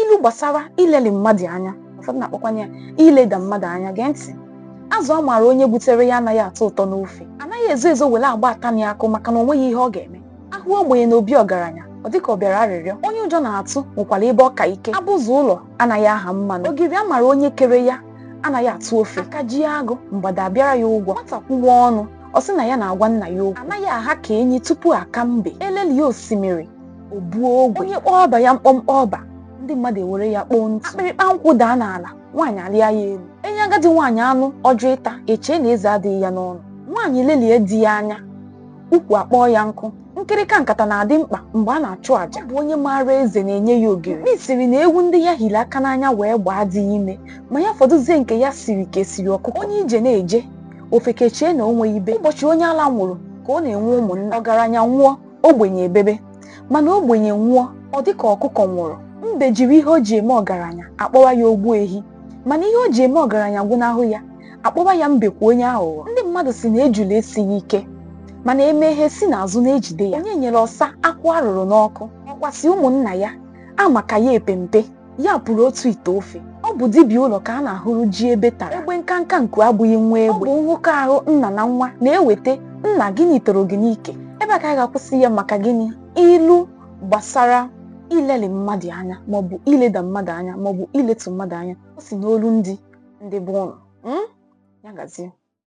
ilu gbasara ileli mmadụ anya ụfọdụ na-akpọkwanye ya ileda mmadụ anya gee ntị azụ a maara onye gbutere ya anaghị atọ ụtọ n'ofe anaghị ezo ezo were agba atani akụ maka na o nweghị ihe ọ ga-eme a hụ ogbenye na obi ọgaranya ọ dịka ọ bịara arịrịọ onye ụjọ na-atụ nwekwara ebe ọ ka ike abụzụ ụlọ anaghị aha mmanụ ogiri a mara onye kere ya anaghị atụ ofe aka ji agụ mgbada abịara ya ụgwọ nwata kwuwa ọnụ ọ sị na ya na-agwa nna ya okwu anaghị aha ka enyi tupu a ka mbe e lelie osimiri o buo ogwe onye kpọọ ọba ya mkpọmkpọ ọba ndị mmadụ ewere ya kpoo ntụ akpịrịkpa nkwụ daa n'ala nwaanyị alịa ya elu e nye agadi nwaanyị anụ ọ jụ ịta e chee na eze adịghị ya n'ọnụ nwaanyị lelie di ya anya ukwu akpọọ ya nkụ nkịrịka nkata na-adị mkpa mgbe a na-achụ àjà ọ bụ onye maara eze na-enye ya ogiri mkpi sịrị na ewu ndị ya hiri aka n'anya wee gbaa adịghị ime ma ya fọdụzie nke ya siri ka esiri ọkụkọ onye ije na-eje ofeke echee na o nweghị be ụbọchị onye ala nwụrụ ka ọ na-enwe ụmụnna ọgaranya nwụọ ogbenye ebebe mana ogbenye nwụọ ọ dị ka ọkụkọ nwụrụ mbe jiri ihe o ji eme ọgaranya a kpọwa ya ogbu ehi mana ihe o ji eme ọgaranya gwụnahụ ya a kpọwa ya mbekwu onye aghụghọ ndị mmadụ sị na ejula esighị ike mana eme ihe si n'azụ na-ejide ya onye nyere ọsa akwụ a rụrụ n'ọkụ ọkwa sị ụmụnna ya ama ka ya epe mpe ya pụrụ otu ite ofe ọ bụ dibịa ụlọ ka a na-ahụrụ ji ebe tara egbe nkanka nku abụghị nwa egbe ọ bụ nhụkọ ahụ nna na nwa na-eweta nna gịnị toro gị n'ike ebe a ka a ga-akwụsị ya maka gịnị ilu gbasara ileli mmadụ anya maọbụ ileda mmadụ anya maọbụ iletu mmadụ anya o si n'olu ndidi bụ ụnụ ya gazie